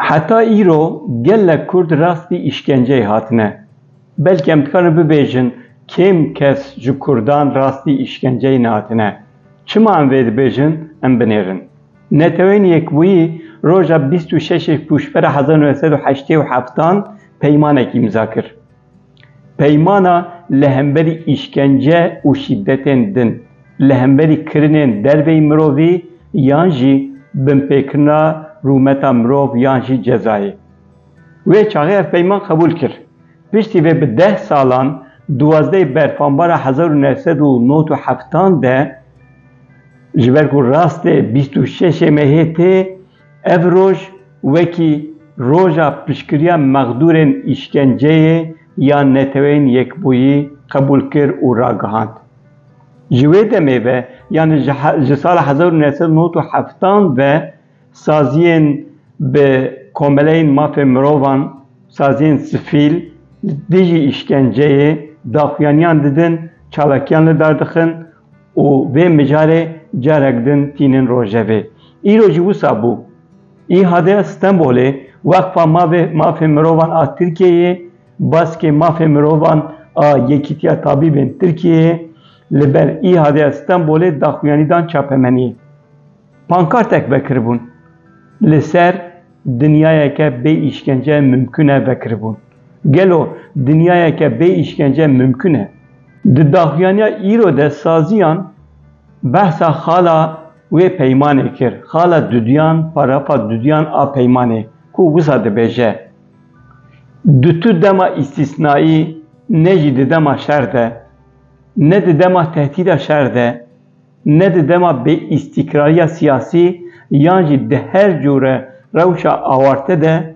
Heta îro gelek Kurd rastî îşkenceyê hatine. Belkem dikarin bibêjin kêm kes ji Kurdan rastî îşkenceyê nehatine. Çima em vê dibêjin em binêrin. Neteweyên Yekbûyî roja bîst û şeş ê Pûşbera hezar û neh sed û heştê û heftan peymanek îmza kir. Peymana li hemberî îşkence û şîdetên din, li hemberî kirinên derveyî mirovî yan jî binpêkirina rûmeta mirov yan jî cezayê. Wê çaxê ev peyman qebûl kir. Piştî vê bi deh salan, duwazdehê berfanbara hezar û neh sed û nod û heftan de, ji ber ku rastê bîst û şeşê Mehê tê, Ev roj wekî Roja Piştgiriya Mexdûrên Îşkenceyê ya Neteweyên Yekbûyî qebûl kir û ragihand. Ji wê demê ve yanî ji sala hezar û neh sed û nod û heftan ve saziyên bi komeleyên mafên mirovan, saziyên sifîl li dijî îşkenceyê daxuyaniyan didin, çalakiyan li dar dixin, Û vê mijarê carek din tînin rojevê. Îro jî wisa bû. Îhade Stenbolê Weqfa Mavê Mafê Mirovan a Tirkiyeyê baskê mafê mirovan a Yekîtiya Tabîbên Tirkiyeyê li ber Îhade Stenbolê daxuyanî dan çapemeniyê. Pankartek vekiribûn li ser. Dinyayeke bê îşkence mimkun e vekiribûn. Gelo dinyayeke bê îşkence mimkun e? Di daxuyaniya îro de saziyan behsa xala wê peymanê kir, xala duduyan, parafa duduyan a peymanê ku wisa dibêje, Di tu dema îstîsnaî ne jî di dema şer de, ne di dema tehdîda şer de, ne di dema bêîstîkrariya siyasî yan jî di her cure rewşa awarte de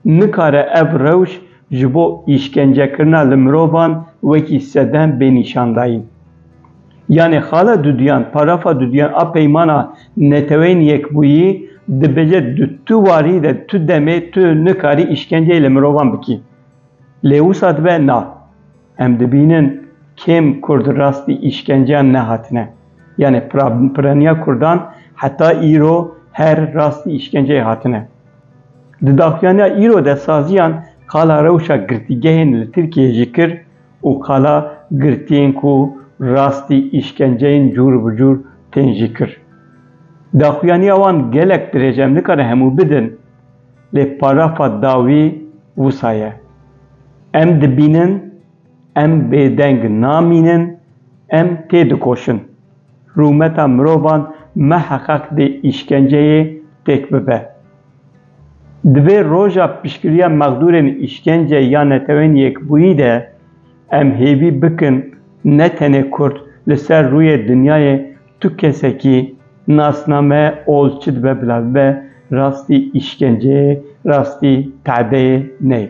nikare ev rewş ji bo îşkencekirina li mirovan wekî sedem bê nîşandayîn. Yanê xala duduyan, parafa duduyan a Peymana Neteweyên Yekbûyî dibêje di tu warî de tu demê tu nikarî îşkenceyê li mirovan bikî. Lê wisa dibe na. Em dibînin kêm Kurd rastî îşkenceyan nehatine. Yanî piraniya Kurdan heta îro her rastî îşkenceyê hatine. Di daxuyaniya îro de saziyan qala rewşa girtîgehên li Tirkiyeyê jî kir û qala girtiyên ku rastî îşkenceyên cûr bi cûr tên jî kir. Daxuyaniya wan gelek dirêj e, em nikarin hemû bidin. lê parafa dawî wisa ye, Em dibînin, em bêdeng namînin, em têdikoşin. Rûmeta mirovan miheqeq dê îşkenceyê têk bibe. Divê roja piştgiriya mexdûrên îşkence ya Neteweyên Yekbûyî de em hêvî bikin ne tenê kurd li ser rûyê dinyayê Tu kesekî nasname ol çi dibe bila bibe rastî îşkenceyê, rastî te'deyê neyê.